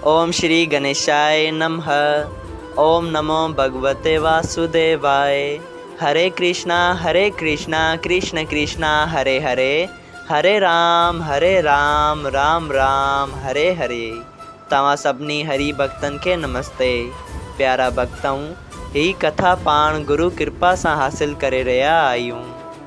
اوم شري گنيشائي نمه اوم نمو ڀڳوتي واسوديوائي هري ڪرشنا هري ڪرشنا ڪرشنا ڪرشنا هري هري هري رام هري رام رام رام هري هري توهان سڀني هري ڀڳتن کي نمستي پيارا ڀڳتؤ هي ڪٿا پاڻ گرو ڪرپا سان حاصل ڪري رهيا آهيون.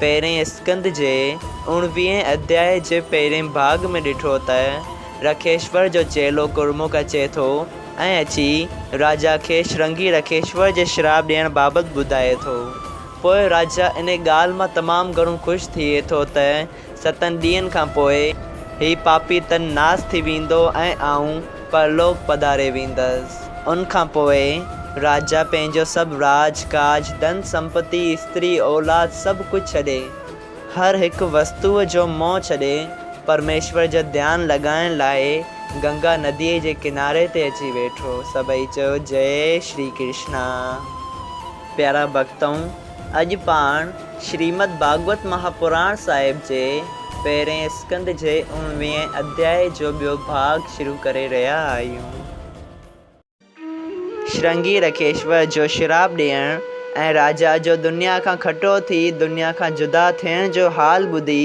پهرئين اسڪند جي اوڻويهين اڌياء جي پهرئين ڀاڳ ۾ ڏٺو ته رکيشور جو چيلو گرمک اچي ٿو ۽ اچي راجا کي شرنگي رکيشور جي شراپ ڏيڻ بابت ٻڌائي ٿو. پوء راجا انهيء ڳالهه مان تمام گهڻو خوش ٿئي ٿو ته ستن ڏينهن کان پوء هي پاپي تن ناس ٿي ويندو ۽ آئون پرلوڪ پڌاري ويندس. ان کان پوء راجا پنهنجو سڀ راڄ ڪاڄ، ڌن سمپتي، استري اولاد سڀ ڪجهه ڇڏي، هر هڪ وستوء جو موهه ڇڏي، پرميشور جو ڌيان لڳائڻ لاء گنگا نديء جي ڪناري تي اچي ويٺو. سڀئي چيو جئي شري ڪرشنا. پيارا ڀڳتؤ! اڄ پاڻ شريمد ڀاڳوت مها پراڻ صاحب جي پهرئين اسڪنڌ جي اوڻويهين اڌياء جو ٻيو ڀاڳ شروع ڪري رهيا آهيون. شرنگي رکيشور جو شراپ ڏيڻ ۽ راجا جو دنيا کان کٽو ٿي دنيا کان جدا ٿيڻ جو حال ٻڌي،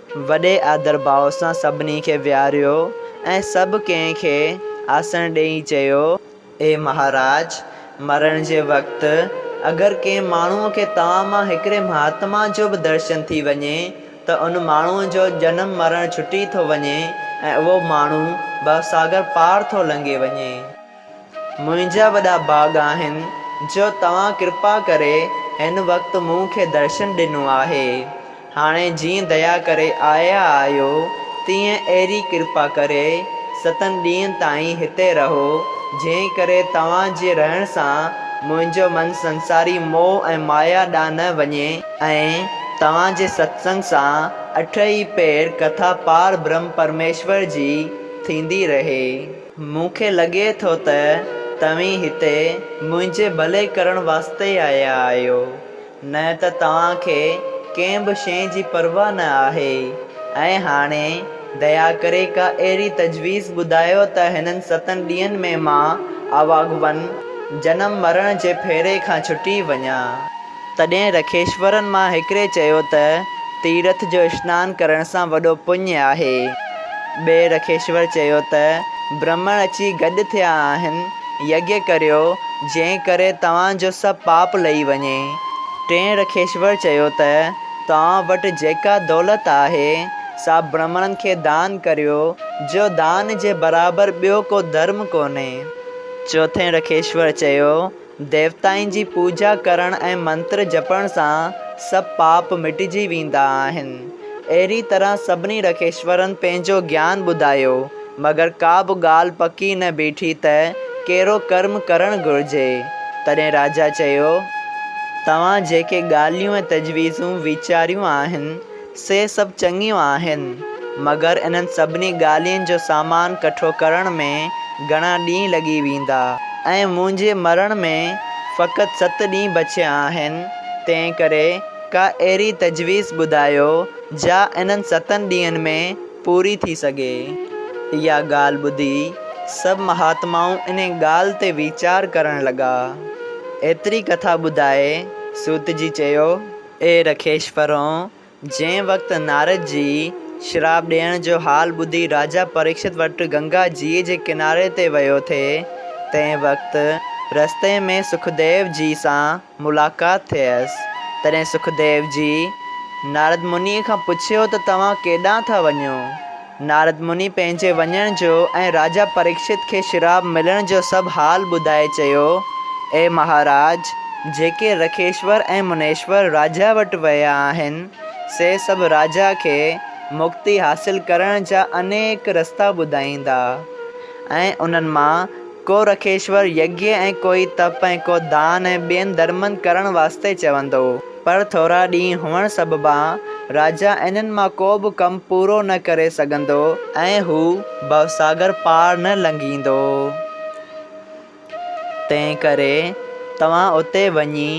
وڏي آڌرڀاء سان سڀني کي ويهاريو ۽ سڀ ڪنهن کي آسڻ ڏيئي چيو. اي مهاراج! مرڻ جي وقت اگر ڪنهن ماڻهوء کي توهان مان هڪڙي مهاتما جو به درشن ٿي وڃي ته ان ماڻهوء جو جنم مرڻ ڇٽي ٿو وڃي ۽ اهو ماڻهو ڀوساگر پار ٿو لنگهي وڃي. منهنجا وڏا ڀاڳ آهن جو توهان ڪرپا ڪري هن وقت مون کي درشن ڏنو آهي. هاڻي جيئن ديا ڪري آيا آهيو، تيئن اهڙي ڪرپا ڪري ستن ڏينهن تائين هتي رهو، جنهن ڪري توهان جي رهڻ سان منهنجو من سنساري موهه ۽ مايا ڏانهن نه وڃي، ۽ توهان جي ستسنگ سان اٺ ئي پهر ڪٿا پار برهم پرميشور جي ٿيندي رهي. مون کي لڳي ٿو ته توهين هتي منهنجي ڀلي ڪرڻ واسطي ئي آيا آهيو، نه ته توهان کي ڪنهن به شيء جي پرواهه نه آهي. ۽ هاڻي ديا ڪري ڪا اهڙي تجويز ٻڌايو ته هنن ستن ڏينهن ۾ مان اواڳوئن جنم مرڻ جي ڦيري کان ڇٽي وڃان. تڏهن رکيشورن مان هڪڙي چيو ته، تيرٿ جو اشنان ڪرڻ سان وڏو پڃ آهي. ٻئي رکيشور چيو ته، برهمڻ اچي گڏ ٿيا آهن، يگيا ڪريو، جنهن ڪري توهان جو سڀ پاپ لهي وڃي. ٽئين رکيشور چيو ته، توهان وٽ جيڪا دولت آهي، سا برهمڻن کي دان ڪريو، جو دان جي برابر ٻيو ڪو ڌرم ڪونهي. چوٿين رکيشور چيو ديوتائن جي پوڄا ڪرڻ ۽ منتر جپڻ سان سڀ پاپ مٽجي ويندا آهن. اهڙي طرح سڀني رکيشورن پنهنجو گيان ٻڌايو، مگر ڪا به ڳالهه پڪي نه بيٺي ته ڪهڙو ڪرم ڪرڻ گهرجي. تڏهن راجا چيو، توهان جيڪي ڳالهيون ۽ تجويزون ويچاريون آهن، سي سڀ چڱيون آهن، مگر انهن سڀني ڳالهين جو سامان ڪٺو ڪرڻ ۾ گهڻا ڏينهن لڳي ويندا ۽ منهنجي مرڻ ۾ فقط ست ڏينهن بچيا آهن، تنهنڪري ڪا اهڙي تجويز ٻڌايو، جا انهن ستن ڏينهن ۾ پوري ٿي سگهي. اها ڳالهه ٻڌي، سڀ مهاتمائون انهي ڳالهه تي ويچار ڪرڻ لڳا. ايتري ڪٿا ٻڌائي، سوت جي چيو. اي رکيش پرون، جنهن وقت نارد جي شراپ ڏيڻ جو حال ٻڌي راجا پريڪشت وٽ گنگا جيء جي ڪناري تي ويو ٿئي، تنهن وقت رستي ۾ سکديو جيء سان ملاقات ٿيس، تڏهن سکديو جيء نارد منيء کان پڇيو ته توهان ڪيڏانهن ٿا وڃو؟ نارد مني پنهنجي وڃڻ جو ۽ راجا پريڪشت کي شراب ملڻ جو سڀ حال ٻڌائي چيو، اي مهاراج! جيڪي رکيشور ۽ منيشور راجا وٽ ويا آهن، سي سڀ راجا کي مڪتي حاصل ڪرڻ جا انيڪ رستا ٻڌائيندا ۽ انهن مان ڪو رکيشور يگيه ۽ ڪوئي تپ ۽ ڪو دان ۽ ٻين ڌرمن ڪرڻ واسطي چوندو. پر ٿورا ڏينهن هئڻ سببان راجا انهن مان ڪو به ڪم پورو نه ڪري سگهندو ۽ هو ڀوساگر پار نه لنگهيندو. تنهن ڪري توهان اتي وڃي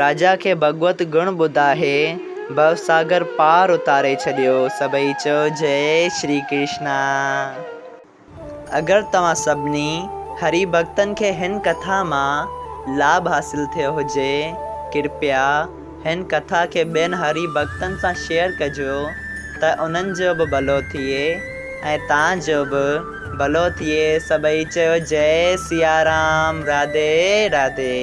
راجا کي ڀڳوت گڻ ٻڌائي ڀوساگر پار اتاري ڇڏيو. سڀئي چئو جئي شري ڪرشنا. اگر توهان سڀني هري ڀڳتن کي هن ڪٿا مان لاڀ حاصل ٿيو هجي، ڪرپيا هن ڪٿا کي ٻين هري ڀڳتن سان شيئر ڪجو ته انهن جو به ڀلو ٿئي ۽ تان جو به ڀلو ٿئي سڀئي چيو جئي سيارام راڌي راڌي.